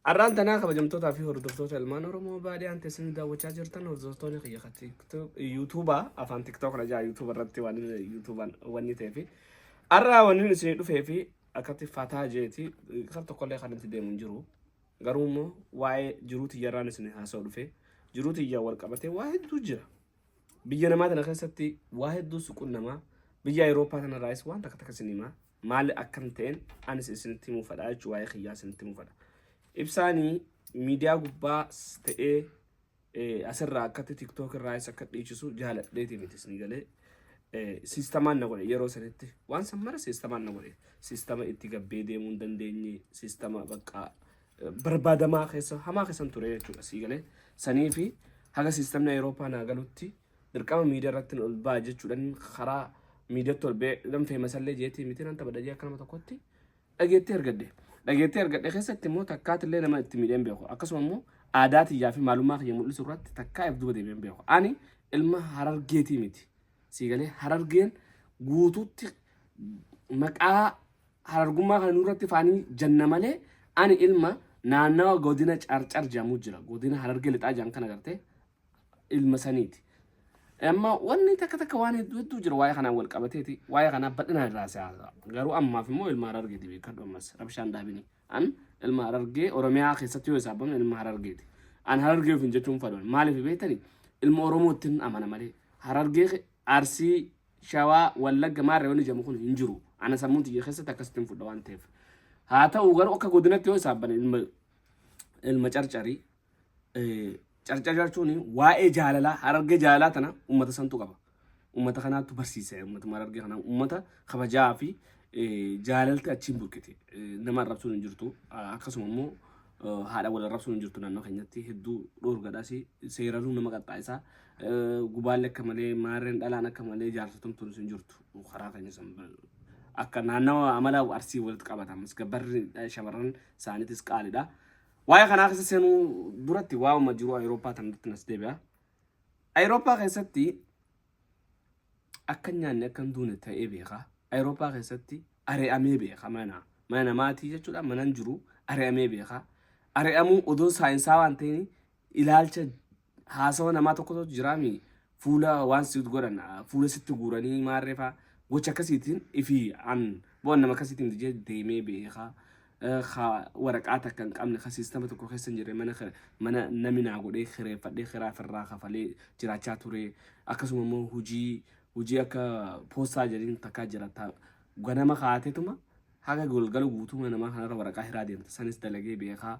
Arraan tanaa kabajamtootaa fi hordoftoota ilmaan Oromoo baadiyaan teessanii daawwachaa jirtan hordoftoonni kiyya ka TikTok- yuutuubaa afaan tiktook na jaa yuutuuba irratti waan yuutuubaan wanni ta'ee fi arraa wanni isinii dhufee fi akkatti fataa jeeti kan tokkollee kan itti deemu hin jiru garuu immoo waa'ee jiruu tiyyarraan isinii haasa'u dhufee jiruu tiyyaa wal qabatee waa hedduu jira biyya namaa tana keessatti waa hedduu suquun namaa biyya Awurooppaa kanarraayis waan takka takka isin himaa maal akkam ta'een anis isinitti himuu fedha jechuun waa'ee kiyyaa isinitti himuu fedha. Ibsaanii miidiyaa gubbaa ta'ee eh, asirraa akkatti tiktook irraa isa akka dhiichisu jaaladheeti miti isin galee eh, siistamaan na godhe yeroo sanitti waan san mara siistamaan na godhe siistama itti gabbee deemuu hin dandeenye siistama bakka eh, barbaadamaa keessa hamaa keessan ture jechuudha sii galee sanii fi haga siistamni Awurooppaa naa galutti Dirqama miidiyaa irratti ol ba'a jechuudhaan karaa miidiyatti ol ba'ee nan feemasallee jeetii miti nan taphadha jee akka nama tokkotti dhageettii argadhe. Dhageettii argadhe keessatti immoo takkaatti illee nama itti miidheen beeku. Akkasuma immoo aadaa tiyyaa fi maalummaa kiyya mul'isu irratti takkaa if duuba deebi'een beeku. Ani ilma harargeetii miti. Siigalee harargeen guutuutti maqaa harargummaa kana nurratti faanii janna malee ani ilma naannawa godina carcar jedhamu jira. Godina harargee lixaa jedhan kana gartee ilma saniiti. Amma wanni takka takka waan hedduu hedduu jira waa'ee kanaan wal qabateeti waa'ee kanaa bal'inaan irraa si haasa'a. Garuu ammaaf immoo ilma harargeeti beekadhu ammas rabshaan daabini. An ilma harargee Oromiyaa keessatti yoo isaabamne ilma harargeeti. An harargee ofiin jechuun fadoon maaliif beektani ilma Oromootti hin amana malee harargee ke- arsii shawaa wallagga maarree wanni jedhamu kun hin jiru. Ana sammuun tiyya keessatti akkasitti hin fudha waan ta'eef. Haa ta'u garuu akka godinatti yoo isaabane ilma ilma carcarii carcarcar chuni waa'ee jaalalaa harargee jaalalaa tana ummata santu qaba. Ummata kanaatu barsiisa ummata harargee kana ummata kabajaa fi jaalalti achiin burkite nama arrabsuun hin jirtu akkasuma immoo haadha wal arrabsuun hin jirtu naannoo keenyatti hedduu dhoorgadhaas seeraluu nama qaxxaa'isaa gubaalli akka malee maarreen dhalaan akka malee jaarsatumtuun hin jirtu karaa keenya san akka naannawa amala arsii walitti qabata ammas gabbarri shamarran isaaniitis qaalidha. Waa'ee kanaa keessa seenuu duratti waa'uma jiru Awurooppaa tanatti nas deebi'a. Awurooppaa keessatti akka nyaanni akka hin duune ta'ee beeka. Awurooppaa keessatti ari'amee beeka mana. Mana namaatii jechuudha manan jiru ari'amee beeka. Ari'amuu odoo saayinsaa waan ta'in ilaalcha haasawa namaa tokko tokko jiraami fuula waan sitti godhan fuula sitti guuranii maarreefaa gocha akkasiitiin ifi an bu'an nama akkasiitiin dijee deemee beekaa ka waraqaa takka hin qabne ka siistama tokko keessa hin jirre mana mana nami naa godhee kireeffadhee kiraa firraa kafalee jiraachaa ture akkasuma immoo hujii hujii akka poostaa jedhin takkaa jiraata ganama kaateetuma haga golgala guutuma namaa kanarra waraqaa hiraa deemta sanis dalagee beekaa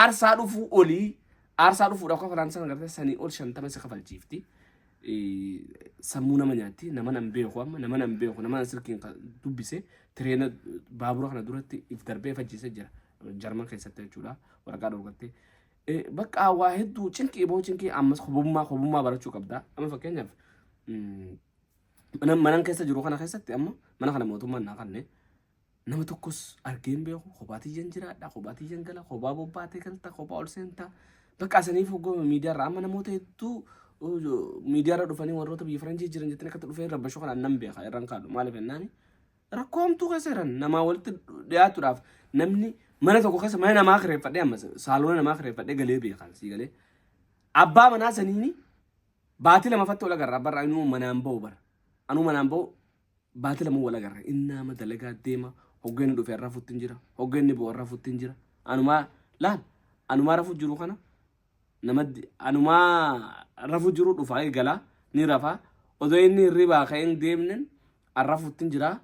Aarsaa dhufuu olii aarsaa dhufuudhaaf kafalaan sana gartee sanii ol shantama isa kafalchiifti. Sammuu nama nyaatti nama nan beeku amma nama nan beeku nama nan sirkiin dubbise tireena baabura kana duratti if darbee fajjise jira jarman keessatti jechuudha waraqaa dhorgattee. Bakka waa hedduu cinqii boo cinqii ammas hubummaa hubummaa barachuu qabda amma fakkeenyaaf manan keessa jiru kana keessatti amma mana kana mootummaan naa kanne Nama tokkos argee hin beeku. Kophaa tiyyan jiraadha. Kophaa tiyyan gala. Kophaa bobbaatee galta. Kophaa ol seenta. Bakka asaniif hoggoo miidiyaarra amma namoota hedduu uh, miidiyaarra dhufanii warroota biyya faranjii jiran jettanii akkatti dhufee rabbashoo kanaan nan beeka irraan kaadhu maaliif jennaani rakkoo hamtuu keessa jiran namaa walitti dhiyaatuudhaaf namni mana tokko keessa mana namaa kireeffadhee amma saaloona namaa kireeffadhee galee beekaan sii galee abbaa manaa saniini baatii lama fattoo lagarraa barra anuu manaan ba'u bara anuu manaan ba'u Baatii lama wal agarre. Inni amma dalagaa deema. Hogga inni dhufe har'a futtiin jira. Hogga inni bu'u har'a futtiin jira. Anumaa laal anumaa rafu jiru kana nama anumaa rafu jiru dhufaa eegalaa ni rafaa. Odoo inni hirribaa ka'ee hin deemnen har'a futtiin jira.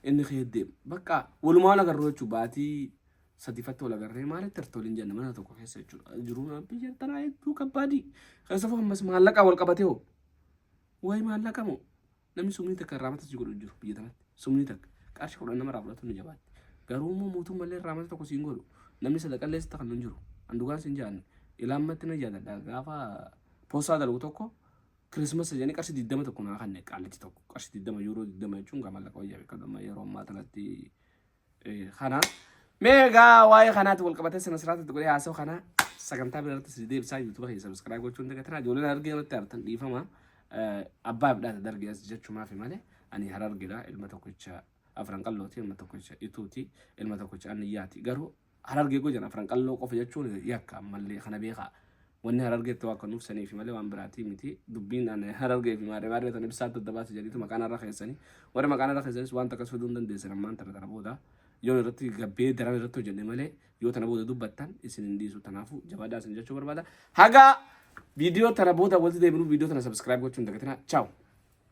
Inni ka'ee deema. Bakka walumaa wal agarru jechuun baatii sadiifatti wal agarree maalitti irratti waliin jenna mana tokko keessa jechuudha. Jiruun biyya tanaa hedduu kabbaadii. Keessafuu ammas maallaqaa wal qabatee hoo. Wayi maallaqa moo. Namni sumnii takka irraa mata si godhu jiru biyya tanatti. Sumnii takka. Qarshi kudhan nama irraa fudhatu ni jabaatti. Garuu immoo mootummallee irraa mata tokko siin godhu. Namni sadaqallee sitti kan hin jiru. Andugaan siin jaanne. Ilaammatti na jaaladha. Gaafa poostaa dalgu tokko Kirismas jedhanii qarshii digdama tokko naa kanne qaallichi tokko qarshii digdama yuuroo digdama jechuun gaa mallaqa wayyaa beekadhu amma yeroo ammaa tanatti kana mee egaa waa'ee kanaatti wal qabatee sana sirraatti itti godhee haasoo kana sagantaa bira irratti si deebisaa yuutuuba keessa sabiskiraayib gochuun dagatinaa ijoolleen argee irratti artan dhiifama abbaa bidhaata dargee as jechuumaaf malee ani har argedha ilma tokkicha afran qallooti ilma tokkicha ituuti ilma tokkicha anniyyaati garuu Harargee gojan afran qalloo qofa jechuun yakka ammallee kana beekaa. Wanni harargeetti waa kanuuf saniifi malee waan biraatii miti. Dubbiin an harargee fi maarree maarree tan ibsaatti adda baasa jedhiitu maqaa narra keessanii. Warri maqaa narra keessanis waan takkas fiduu hin dandeessan ammaan tana tana booda. Yoon irratti gabbee daran irratti hojjenne malee yoo tana booda dubbattan isin hin dhiisu tanaafu jabaadhaa isin jechuu barbaada. Haga viidiyoo tana booda walitti deebinu viidiyoo tana subscribe gochuu hin dagatinaa. Ciao.